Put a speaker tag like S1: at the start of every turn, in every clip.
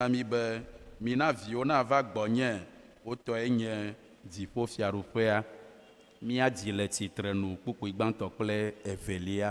S1: na mí be, Mina viwo nava gbɔnye, wo tɔe nye dziƒofiaɖuƒea. Mía dzi le tsitrenu kpukpui gbãtɔ kple evelia.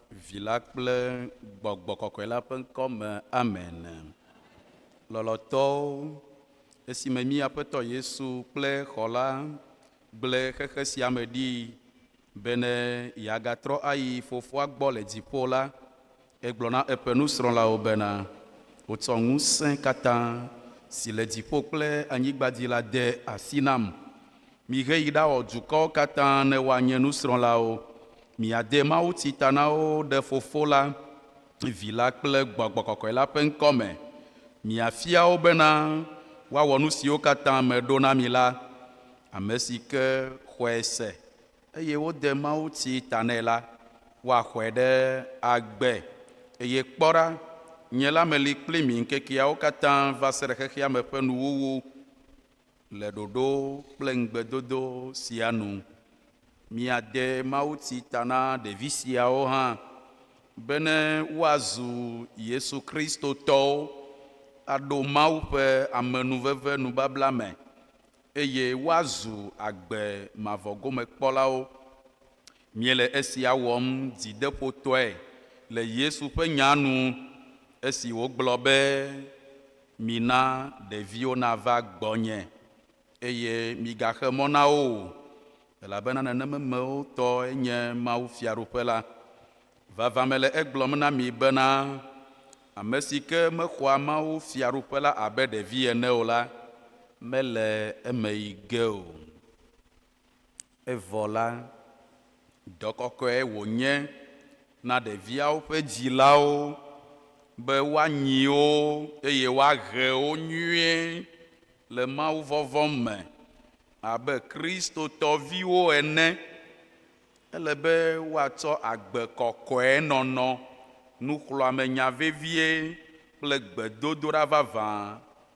S1: Vi la kple Gbɔgbɔ Kɔkɔe la ƒe ŋkɔ me, amen. Lɔlɔtɔwo, esime mí Aƒetɔ Yesu kple xɔ la gblẽ xexe sia me ɖi bene yeagatrɔ ayi Fofoa gbɔ le dziƒo la, egblɔ na eƒe nusrɔ̃lawo bena, Wotsɔ ŋusẽ katã si le dziƒo kple anyigba dzi la de asi nam. Mihe yi ɖawɔ dukɔwo katã ne woanye nusrɔ̃lawo. Miade mawuti ta na wo ɖe Fofo la, Vi la kple gbɔgbɔ kɔkɔe la ƒe ŋkɔ me. Miafia wo bena woawɔ nu siwo katã meɖo na mi la. Ame si ke xɔe se, eye wode mawuti ta nɛ la, woaxɔe ɖe agbe. Eye kpɔ ɖa, nye la meli kpli mi ŋkekeawo katã va se ɖe xexeame ƒe nuwuwu. Le ɖoɖo kple ŋugbedodo sia nu, miade mawuti ta na ɖevi siawo hã bene woazu Yesu Kristo tɔwo, aɖo Mawu ƒe amenuveve nubabla me, eye woazu agbe mavɔ gome kpɔlawo. Míele esia wɔm dzideƒotɔe le Yesu ƒe nya nu esi wògblɔ be, Mina ɖeviwo nava gbɔnye, eye migaxe mɔ na wo o, elabena nenememewo tɔe nye mawufiaɖuƒe la. Vavã mele egblɔm na mi bena, ame si ke mexɔa mawufiaɖuƒe la abe ɖevi ene o la, mele eme yi ge o. Evɔ la, dɔ kɔkɔe wònye na ɖeviawo ƒe dzilawo be woanyi wo eye woahe wo nyuie le mawuvɔvɔ̃ me abe Kristotɔ viwo ene. Ele be woatsɔ agbe kɔkɔe nɔnɔ, nuxlɔ̃amenya vevie, kple gbedodoɖa vavã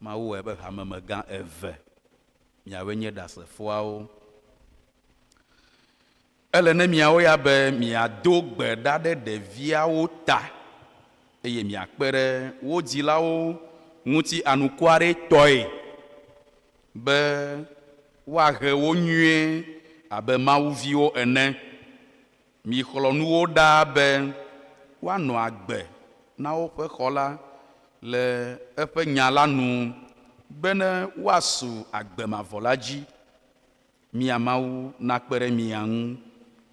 S1: Mawu wɔe be hamemegã eve miawoe nye Ɖasefoawo. Ele ne miawo ya be miado gbe ɖa ɖe ɖeviawo ta eye miakpe ɖe wo dzilawo ŋuti anukwaretɔe be woahe wo nyuie abe Mawu viwo ene. Mixlɔ̃ nu wo ɖaa be woanɔ agbe na woƒe xɔ la le eƒe nya la nu bene woasu agbe mavɔ la dzi. Mia Mawu nakpe ɖe mia ŋu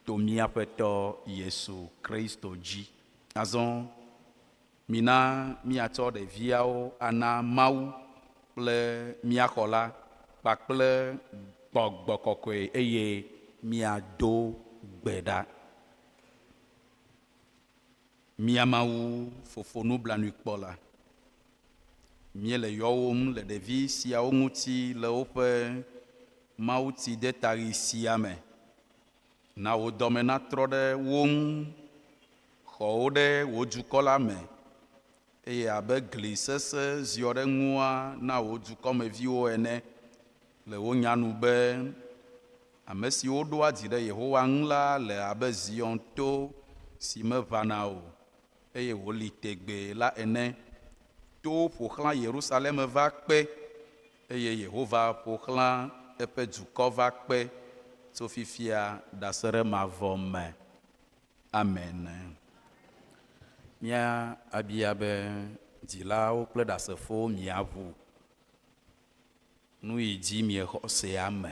S1: to mía Aƒetɔ Yesu Kristo dzi. Azɔ. Mina míatsɔ ɖeviawo ana Mawu kple mía xɔla kpakple gbɔgbɔ kɔkɔe eye míado gbe ɖa. Mía Mawu Fofo nublanuikpɔla, míele yɔwòm le ɖevi siawo ŋuti le woƒe mawutidetaɣi sia me Na wò dɔme natrɔ ɖe wo ŋu. Xɔ wo ɖe wò dukɔ la me, eye abe gli sesẽ ziɔ ɖe ŋua na wò dukɔmeviwo ene. Le wò nya nu be, Ame siwo ɖoa dzi ɖe Yehowa ŋu la le abe Zion to si meʋãna o, eye wòli tegbee la ene. Towo ƒo xlã Yerusalem va kpe, eye Yehowa ƒo xlã eƒe dukɔ va kpe tso fifia ɖaseɖe mavɔ me. Amen. Mía abia be, Dzilawo kple Ɖasefowo mia ŋu nuyi dzi miexɔ sea me?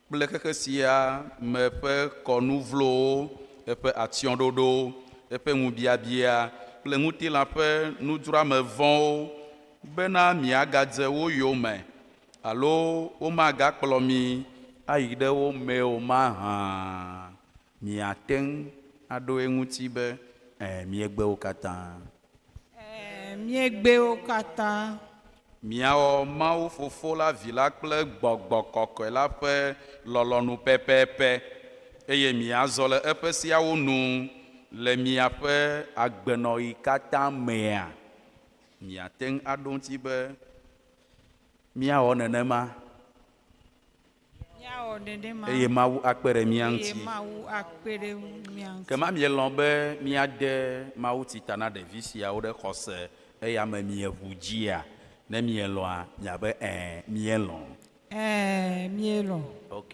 S1: kple xexe sia me ƒe kɔnu vlowo, eƒe atsyɔ̃ɖoɖowo, eƒe ŋubiabiaa, kple ŋutilã ƒe nudzroame vɔ̃wo, bena miagadze wo yome alo womagakplɔ mi ayi ɖe wo mee o mahã. Miate ŋu aɖo eŋuti be, Ẽ, míegbe wo katã. Ẽ, míegbe wo katã. Miawɔ Mawu Fofo la, Vi la kple gbɔgbɔ kɔkɔe la ƒe lɔlɔ̃nu pɛpɛpɛ, eye miazɔ le eƒe seawo nu le miaƒe agbenɔɣi katã mea? Miate ŋu aɖo eŋuti be, Míawɔ nenema. eye Mawu akpe ɖe mía ŋuti. Ke ma mielɔ̃ be míade mawutsi ta na ɖevi siawo ɖe xɔse eya me mieʋu dzia? Ne mielɔ̃a, miabe Ẽ, míelɔ̃. Ẽ, míelɔ̃. Ok.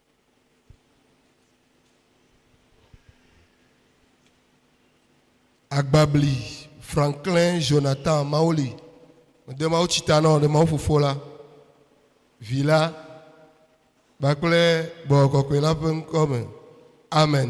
S1: Agbabli Franklin Jonathan Mawoli, mede Mawu tsi ta na o, ɖe Mawu Fofo la, Vi la, kpakple Gbɔgbɔ Kɔkɔe la ƒe ŋkɔ me. Amen.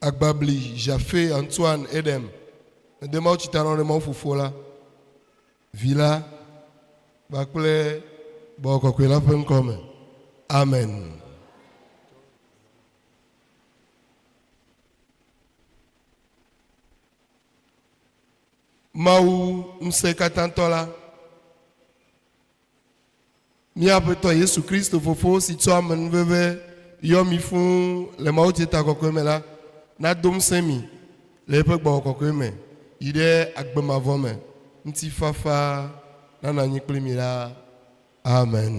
S1: Agbabli, Jafe, Antoine, Edem, mede mawutsi ta na wo ɖe Mawu Fofo la, Vi la, kpakple Gbɔgbɔ Kɔkɔe la ƒe ŋkɔ me. Amen. Mawu Ŋusẽkatãtɔ la. Mía Aƒetɔ Yesu Kristo Fofo si tsɔ amenuveve yɔ mi fũu le mawudzitakɔkɔe me la nado ŋusẽ mi le eƒe gbɔgbɔ kɔkɔe me yi ɖe agbe mavɔ me. Ŋutifafa nanɔ anyi kpli mi ɖaa. Amen.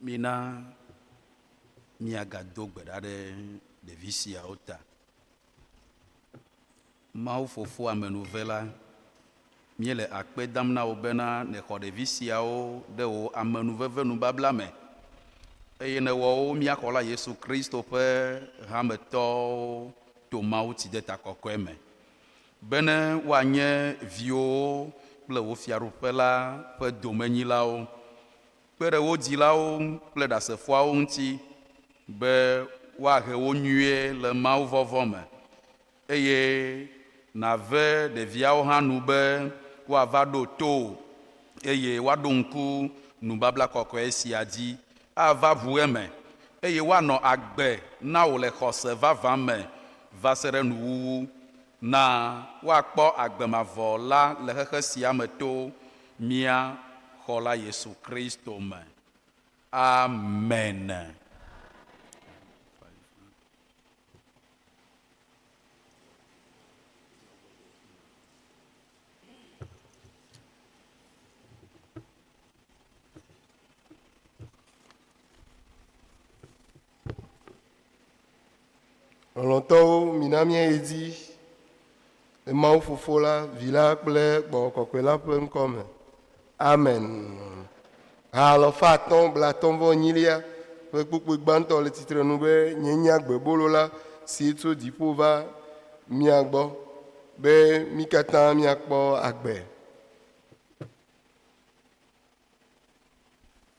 S1: Mina míagado gbe ɖa ɖe ɖevi siawo ta. Mawu Fofo amenuve la, míele akpe dam na wò bena nèxɔ ɖevi siawo ɖe wò amenuvevenubabla me eye nèwɔ wo mía Xɔla Yesu Kristo ƒe hametɔwo to mawutsideta kɔkɔe me, bene woanye viwòwo kple wò Fiaɖuƒe la ƒe domenyilawo. kpe ɖe wo dzilawo ŋu kple Ɖasefoawo ŋuti be woahe wo nyuie le mawuvɔvɔ̃ me, eye nàve ɖeviawo hã nu be woava ɖo to wò eye woaɖo ŋku nubabla kɔkɔe sia dzi, ava ʋu eme, eye woanɔ agbe na wò le xɔse vavã me va se ɖe nuwuwu. Na woakpɔ agbe mavɔ la le xexe sia me to mía Xɔla Yesu Kristo me. Amen. Lɔlɔ̃tɔwo, mina míayi edzi le Mawu Fofo la, Vi la kple Gbɔgbɔ Kɔkɔe la ƒe ŋkɔ me. Amen. Ha alɔfa atɔ̃ blatɔ̃ vɔ enyilia ƒe kpukpui gbãtɔ le tsitre nu be nye nye agbebolo la si tso dziƒo va mia gbɔ be mi katã miakpɔ agbe.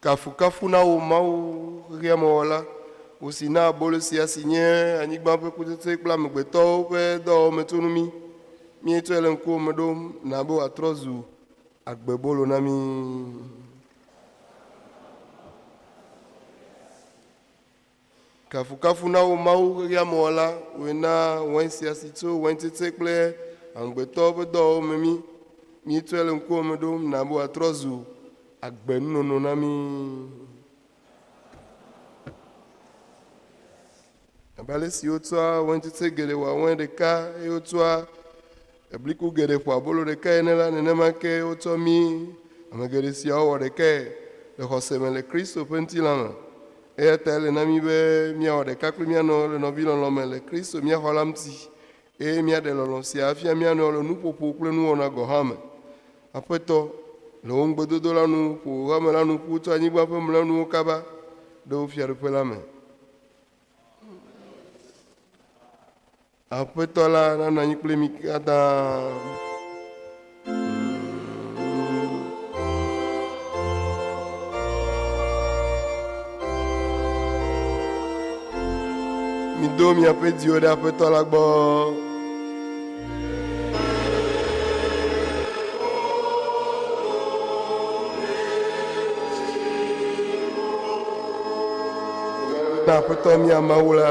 S1: Kafukafu na wò Mawu, xexea me Wɔla, wò si na abolo sia si nye anyigba ƒe kutsetsoe kple amegbetɔwo ƒe dɔwɔwɔmetsonu mí. Míetsɔe le ŋkuwò me ɖom, na be wòatrɔ zu agbebolo na mí. Kafukafu na wò Mawu xexeamewɔla, wòe na wain sia si tso wain tsetse kple amegbetɔwo ƒe dɔwɔwɔ me mí. Míetsɔe le ŋkuwò me ɖom, na be wòatrɔ zu agbe nunono na mí. Abe ale si wotsɔa wain tsetse geɖe wɔa wain ɖeka eye wotsɔa Ebliku geɖe ƒo abolo ɖekae ene la, nenema ke wotsɔ mii. Ame geɖe siawo wɔ ɖekae le xɔse me le Kristo ƒe ŋutilã me. Eya ta ele na mí be míawɔ ɖeka kple mía nɔewo le nɔvilɔlɔ̃ me le Kristo mía Xɔla ŋuti, eye míaɖe lɔlɔ̃ sia afia mía nɔewo le nuƒoƒo kple nuwɔna gɔ̃ hã me. Aƒetɔ, le wò ŋugbedodo la nu, ƒo wò hame la nu ƒu tso anyigba ƒe mlɔenuwo kaba ɖe wò Fiaɖuƒe la me. Aƒetɔ la nanɔ anyi kple mi katã. Mido miaƒe dziwo ɖe Aƒetɔ la gbɔ. Na Aƒetɔ mia Mawu la.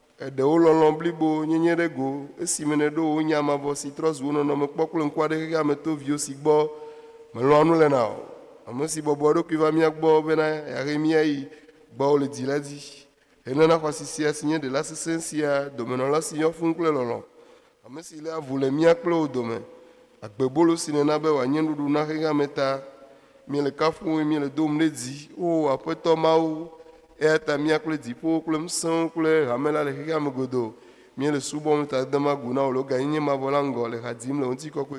S1: Èɖe wo lɔlɔ̃ blibo nyenye ɖe go esime nèɖo wò nya mavɔ si trɔ zu wò nɔnɔme kpɔ kple ŋkua ɖe xexea me to viwò si gbɔ mèlɔ̃a nu le na o, ame si bɔbɔ eɖokui va mía gbɔ bena yeahe mí ayi gbɔwò le dzi la dzi. Henana xɔasi sia, si nye ɖela sesẽ sia, domenɔla si yɔ fũu kple lɔlɔ̃, Ame si léa ŋu le mía kple wo dome, agbebolo si nèna be wòanye nuɖuɖu na xexea me ta. Míele kafum wò eye míele dom ɖe dzi, O Aƒetɔ Mawu, eya ta mía kple dziƒowo kple ŋusẽwo kple hame la le xexeame godoo. Míele subɔm le tadedeameagu na wò le wò gãnyenye mavɔ la ŋgɔ, le ha dzim le wò ŋutikɔkɔe.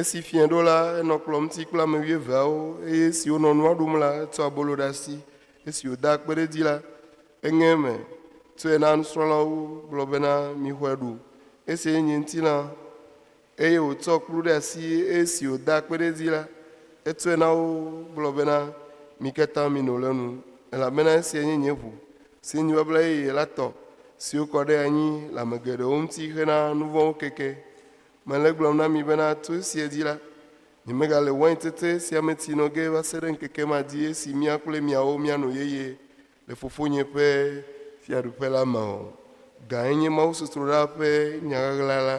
S1: Esi fiẽ ɖo la, enɔ kplɔ̃ ŋuti kple ame wuieveawo, eye esi wonɔ nua ɖum la, etsɔ abolo ɖe asi. Esi wòda akpe ɖe edzi la, eŋe eme, tsɔe na nusrɔ̃lawo, gblɔ bena, Mixɔe ɖu, esiae nye ŋutilã. Eye wòtsɔ kplu ɖe asi, eye esi wòda akpe ɖe edzi la, etsɔe na wo, gblɔ bena, Mi katã mino le enu, elabena esiae nye nye ʋu, si nye babla yeye la tɔ, si wokɔ ɖe anyi le ame geɖewo ŋuti hena nuvɔ̃wo keke. Mele egblɔm na mi bena to esia dzi la, nyemegale wain tete sia me ti nɔ ge va se ɖe ŋkeke ma dzi esi mía kple miawo míano yeye le Fofonye ƒe Fiaɖuƒe la me o. Gãe nye mawusɔsrɔ̃ɖaa ƒe nya ɣaɣla la.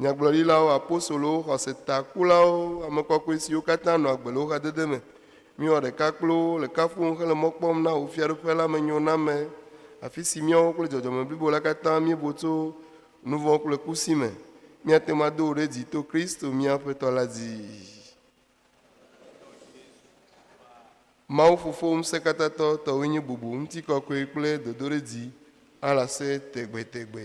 S1: nyagblɔɖilawo, apostolowo, xɔse ta kulawo, ame kɔkɔe siwo katã nɔ agbe le wò xadede me. Mi wɔ ɖeka kple wo le kafuwom hele mɔ kpɔm na wò Fiaɖuƒe la me nyo na me, afi si míawo kple dzɔdzɔme blibo la katã míebo tso nuvɔ̃ kple ku si me. Míate ŋu ado wò ɖe dzi to Kristo mía Aƒetɔ la dzi. Mawu Fofo Ŋusẽkatãtɔ tɔwoe nye bubu, ŋutikɔkɔe kple dodoɖedzi alase tegbetegbe.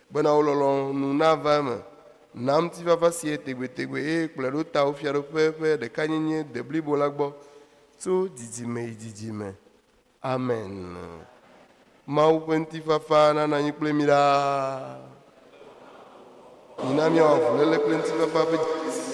S1: Bena wò lɔlɔ̃nu nava eme. Na ŋutifafa si ye tegbetegbe, eye kplɔe ɖo tawò Fiaɖuƒe ƒe ɖekanyenye deblibo la gbɔ tso dzidzime yi dzidzime. Amen. Mawu ƒe ŋutifafa nanɔ anyi kple mí ɖaa. Mina míawɔ avuléle kple ŋutifafa ƒe dzidzime.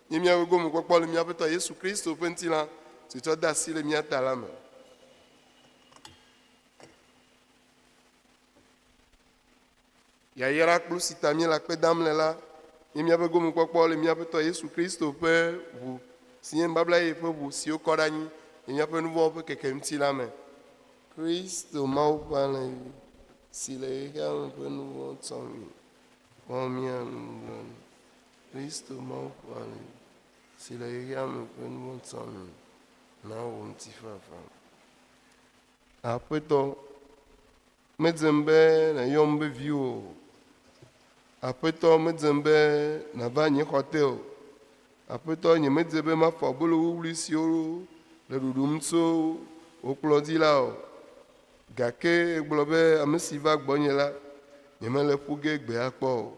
S1: nye mía gomekpɔkpɔ le mía Aƒetɔ Yesu Kristo ƒe ŋutilã si tsɔ de asi le mía ta la me. Yayra kplu si ta míele akpe dam le la nye míaƒe gomekpɔkpɔ le mía Aƒetɔ Yesu Kristo ƒe ʋu si nye nubabla ye ƒe ʋu siwo kɔ ɖe anyi le míaƒe nuvɔwo ƒe keke ŋuti la me. Kristo Mawu ƒe alẽ si le xexea me ƒe nuvɔwo tsɔ mi, wɔ mía nublanui. Kristo Mawu ƒe ali, si le xexea me ƒe nuŋɔta nu, nawɔ ŋutifafa. Aƒetɔ, medzem be nàyɔm be viwò o. Aƒetɔ, medzem be nàva nye xɔte o. Aƒetɔ, nyemedze be mafɔ abolo wuwlui siwo le ɖuɖum tso wò kplɔ dzi la o. Gake ègblɔ be, Ame si va gbɔnye la, nyemele ƒu ge gbe akpɔ o.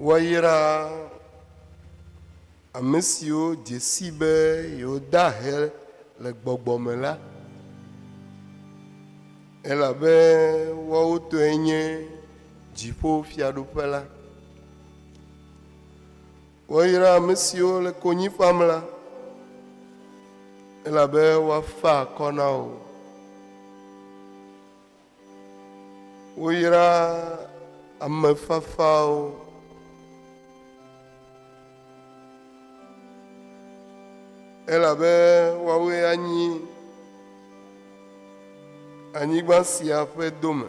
S1: Woayraa ame siwo dze sii be yewode ahe le gbɔgbɔ me la, elabe woawo tɔe nye dziƒo fiaɖuƒe la. Woayra ame siwo le konyi fam la, elabe woafa akɔ na wo. Woyra ame fafawo. Elabe woawoe anyi anyigba sia ƒe dome.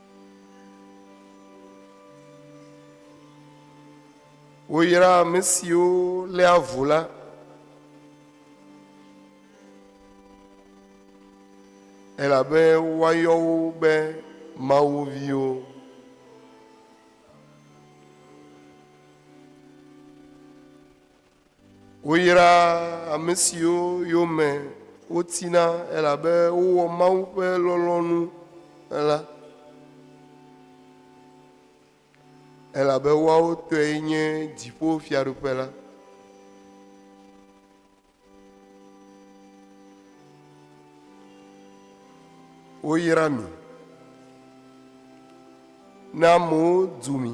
S1: Woyra ame siwo lé avu la. Elabe woayɔ wo be Mawu viwo. Woyraa ame siwo yome wotina elabe wowɔ Mawu ƒe lɔlɔ̃nu la, elabe woawo tɔe nye dziƒo fiaɖuƒe la. Woyra mi. Ne amewo du mi.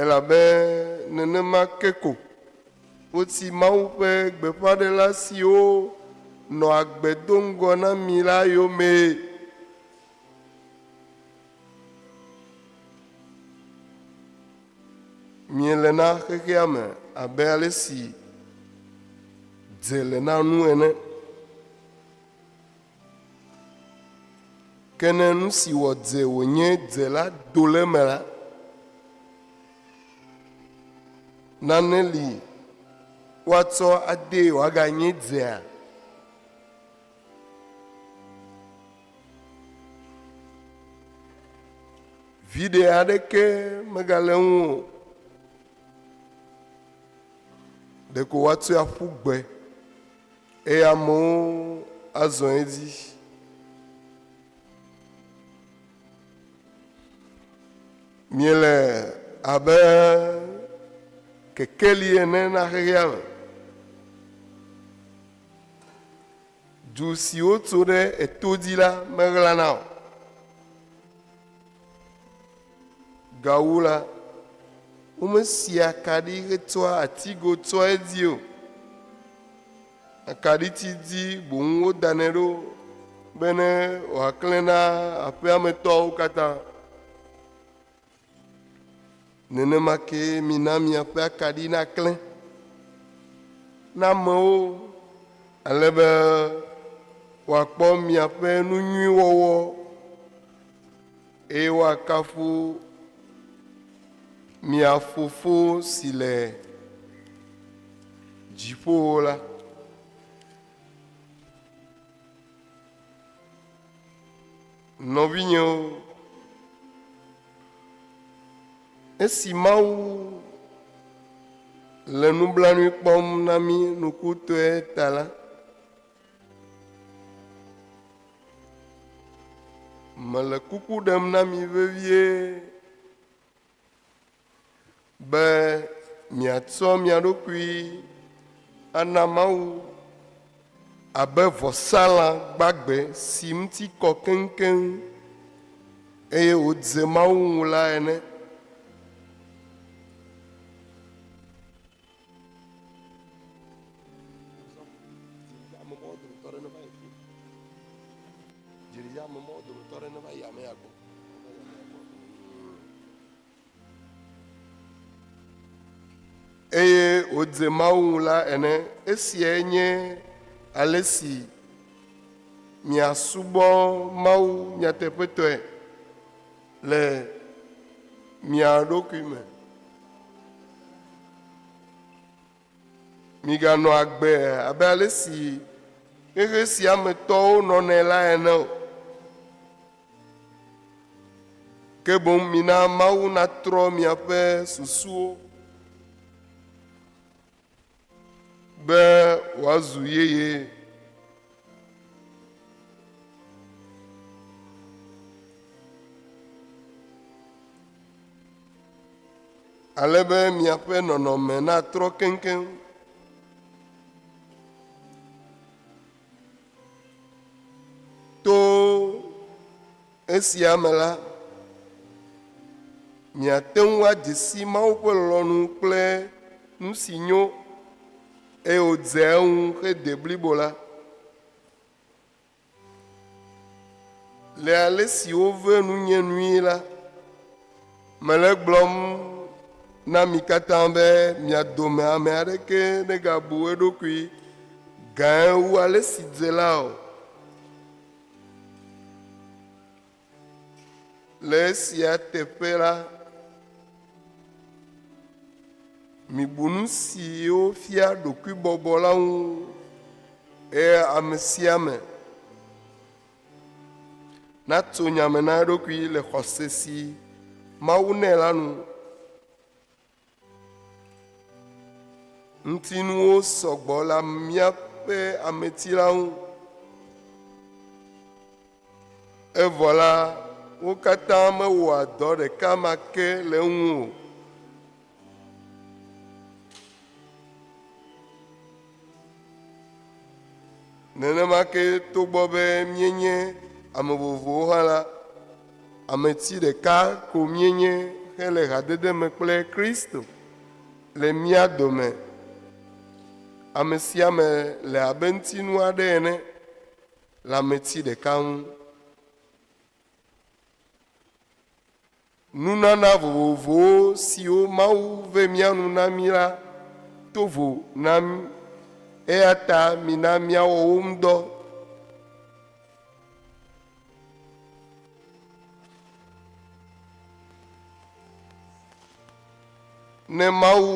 S1: Elabe nenema ke ko woti Mawu ƒe gbeƒãɖela siwo nɔa agbe do ŋgɔ na mi la yomee. Miele na xexea me abe ale si dze le na nu ene. Ke ne nu si wɔ dze wònye dze la do le eme la, nane li woatsɔ adee wòaganye dzea? Viɖe aɖeke megale eŋu o. Ɖeko woatsoe aƒu gbe. Eye amewo azɔ edzi. Miele abe kekeli ene na xexea me. Du siwo tso ɖe eto dzi la meɣlana o. Gawu la, womesi akaɖi hetsɔa atigo tsɔa edzi o. Akaɖiti dzi boŋ wodanɛ ɖo bene wòaklẽ na aƒea me tɔwo katã. Nenema ke mina miaƒe akaɖi naklẽ na amewo ale be wòakpɔ miaƒe nu nyui wɔwɔ. Eye woakafu mia Fofo si le dziƒowo la. Nɔvinyewo, esi Mawu le nublanui kpɔm na mí nukutɔe ta la, Mele kuku ɖem na mi vevie be miatsɔ mia ɖokui ana Mawu abe vɔsalã gbagbe si ŋuti kɔ keŋkeŋ eye wòdze Mawu ŋu la ene. Eye wòdze Mawu ŋu la ene. Esiae nye ale si miasubɔ Mawu nyateƒetɔe. le mia ɖokui me. Miganɔ agbe abe ale si xexe sia me tɔwo nɔnɛ la ene o. Ke boŋ mina Mawu natrɔ miaƒe susuwo. be wòazu yeye. Ale be miaƒe nɔnɔme natrɔ keŋkeŋ. To Esia me la, miate ŋu adze si Mawu ƒe lɔlɔ̃nu kple nu si nyo, eye wòdzea eŋu xe deblibo la, le ale si wovea nunye nui la. Mele egblɔm na mi katã be mia dome ame aɖeke negabu eɖokui gãe wu ale si dze la o. Le esia teƒe la, mibu nu siwo fia ɖokuibɔbɔ la ŋu eye ame sia ame natso nya me na eɖokui le xɔse si Mawu nɛ la nu. Ŋutinuwo sɔgbɔ le míaƒe ameti la ŋu. Evɔ la, wo katã mewɔa dɔ ɖeka ma ke le eŋu o. Nenema ke togbɔ be míenye ame vovovowo hã la, ameti ɖeka ko míenye hele hadede me kple Kristo le mía dome. Ame sia ame le abe ŋutinu aɖe ene le ameti ɖeka ŋu. Nunana vovovowo siwo Mawu ve mía nu na mí la to vo na mí, eya ta mina míawɔ wo ŋu dɔ. Ne Mawu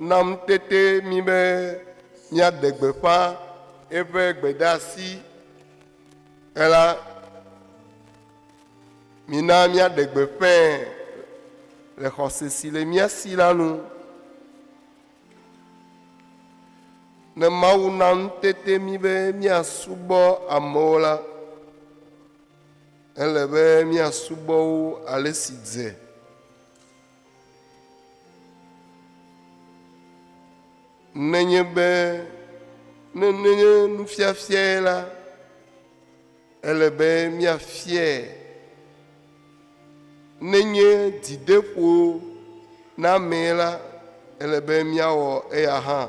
S1: na ŋutete mí be míaɖe gbeƒã eƒe gbedeasi ela, Mina míaɖe gbeƒãe le xɔse si le mía si la nu. Ne Mawu na ŋutete mí be míasubɔ amewo la, ele be míasubɔ wo ale si dze. Nenye be ne nenye nufiafiae la, Ele be míafiae nenye dzideƒo na amee la, ele be míawɔ eya hã.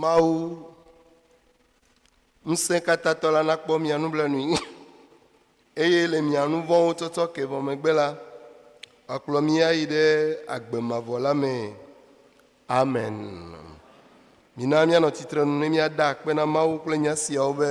S1: Mawu ŋusẽkatãtɔ la nakpɔ mia nublanui, eye le mia nu vɔ̃wo tsɔtsɔ ke vɔ megbe la, wòakplɔ mi ayi ɖe agbe mavɔ la mee. Amen. Mina míanɔ tsitrenu ne míada akpe na Mawu kple nya siawo be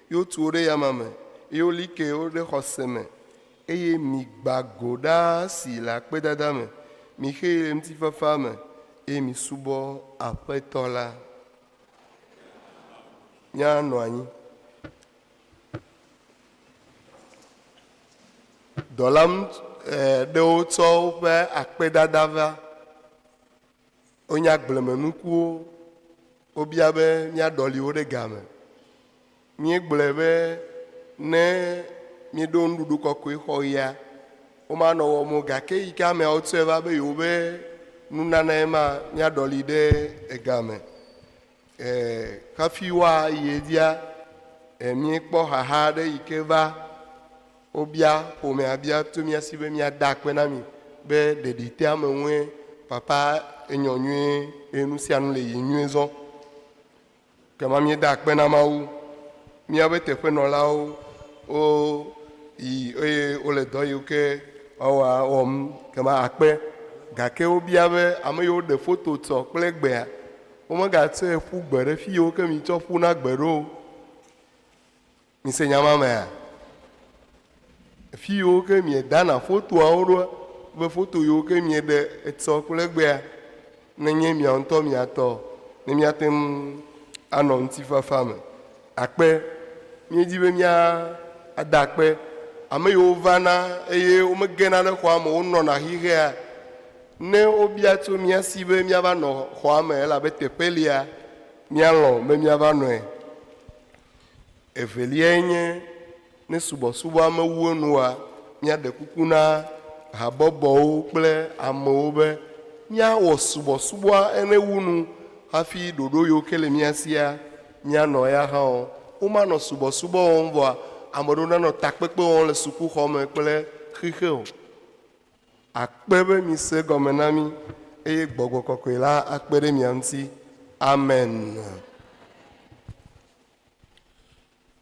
S1: eye wotu wo ɖe yama me, eye woli ke wo ɖe xɔse me, eye migbã go ɖaa si le akpedada me, mixee le ŋutifafa me, eye misubɔ Aƒetɔ la. Míanɔ anyi. Dɔla ŋut, e, ɖewo tsɔ woƒe akpedada va. Wonya agblemenukuwo. Wobia be míaɖɔli wo ɖe game. Míegblɔe be ne míeɖo nuɖuɖu kɔkɔe xɔ ɣia, womanɔ wɔm o. Gake yi ke ameawo tsɔe va be yewobe nunanae ma, míaɖɔli ɖe ega me. Hafi woayi edzia, míekpɔ xaxa aɖe yi ke va wobia ƒomea bia to mía si be míada akpe na mi be ɖeɖitea me ŋue papa enyɔ nyuie eye nu sia nu le yi nyuie zɔ. Kema míeda akpe na Mawu. Míaƒe teƒenɔlawo wo yi eye wole dɔ yiwo ke woawɔa wɔm kema akpe. Gake wobia be ame yiwo ɖe foto tsɔ kple gbea Womegatsɔe ƒu gbe ɖe fiyewo ke mitsɔ ƒuna gbe ɖo o. Mise nya ma mea? Fiyewo ke miedana fotoawo ɖoa, be foto yiwo ke mieɖe etsɔ kple egbea, nenye miawo ŋutɔ mia tɔ, ne miate ŋu anɔ ŋutifafa me. Akpe, Míedi be míada akpe ame yiwo vana eye womegena ɖe xɔa me o, wonɔna xixea, ne wobia tso mía si be míava nɔ xɔa me elabe teƒe lia, míalɔ̃ be míava nɔe. Eveliae nye. Ne subɔsubɔa mewu enu oa, míaɖe kuku na habɔbɔwo kple amewo be míawɔ subɔsubɔa ene wu nu hafi ɖoɖo yiwo ke le mía sia míanɔ eya hã wɔm. Womanɔ subɔsubɔ wɔm vɔa, ame aɖewo nanɔ takpekpe wɔm le sukuxɔ me kple xixe o. Akpe be mise gɔme na mí eye gbɔgbɔ kɔkɔe la akpe ɖe mia ŋuti. Amen.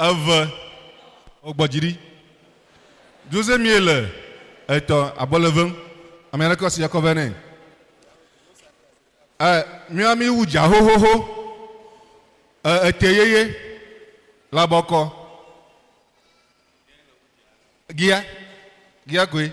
S1: Eve, wogbɔ dzi ɖi. Jose mie le etɔ abɔ le vem. Ame aɖe kɔ si akɔ vɛ nɛ. Ɛ mia mi wu dza xoxoxo. Ɛ ete yeye le abɔ kɔ. Gia, gia koe.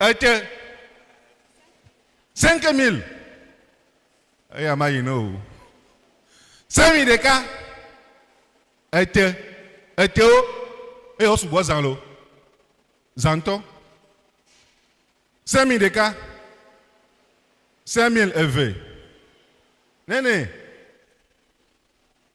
S1: Ete 5000 eya ma yi ne o. Semi ɖeka ete etewo eye wo sugbɔ zã lo zãtɔ. Semi ɖeka semil eve nene.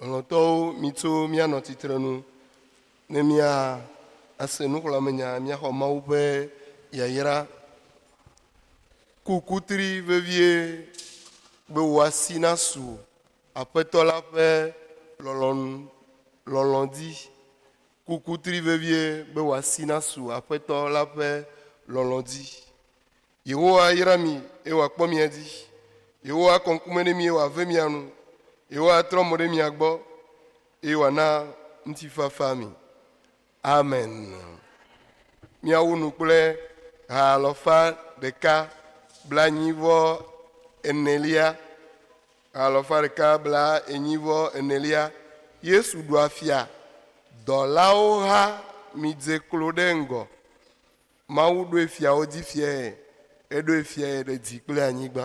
S1: Lɔlɔ̃tɔwo, mitso míanɔ tsitrenu ne mía ase nuxlɔ̃amenya, míaxɔ Mawu ƒe yayra. Ku kutri vevie be wò asi nasu Aƒetɔ la ƒe lɔlɔ̃nu lɔlɔ̃ dzi. Ku kutri vevie be wò asi nasu Aƒetɔ la ƒe lɔlɔ̃ dzi. Yehowa ayra mi, eye wòakpɔ mia dzi. Yehowa akɔ ŋkume ɖe mi, eye wòave mia nu. Yehowa atrɔ mo ɖe mia gbɔ, eye wòana ŋutifafa mi. Amen. Miawu nu kple ha alɔfa ɖeka bla enyi vɔ enelia. Ha alɔfa ɖeka bla enyi vɔ enelia. Yesu ɖua fia. Dɔlawo ha midze klo ɖe ŋgɔ. Mawu ɖoe fiawo dzi fiae, eɖoe fiae ɖe dzi kple anyigba.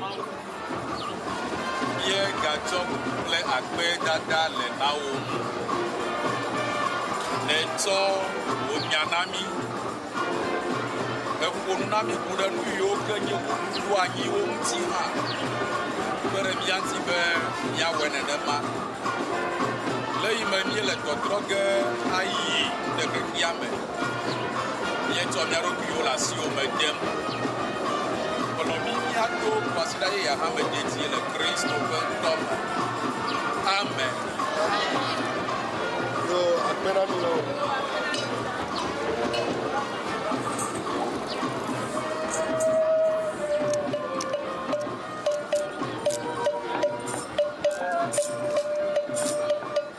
S1: Mawu ye gatsɔ kple akpe dada le nawo. Nè tsɔ wò nya na mí. Eƒo nu na mí ku ɖe nu yiwo ke nye wò nuku anyiwo ŋuti hã. Kpe ɖe mía ŋuti be mía wɔe nenema. Le yi me mí le tɔtrɔ ge ayi ɖe xexea me. míetsɔ mía ɖokuiwo le asiwo me dem kplɔ mí míato kwasiɖa yeyea hã me dedie le Kristo ƒe ŋkɔ me. Amen. Yo, akpe ɖa mi le o.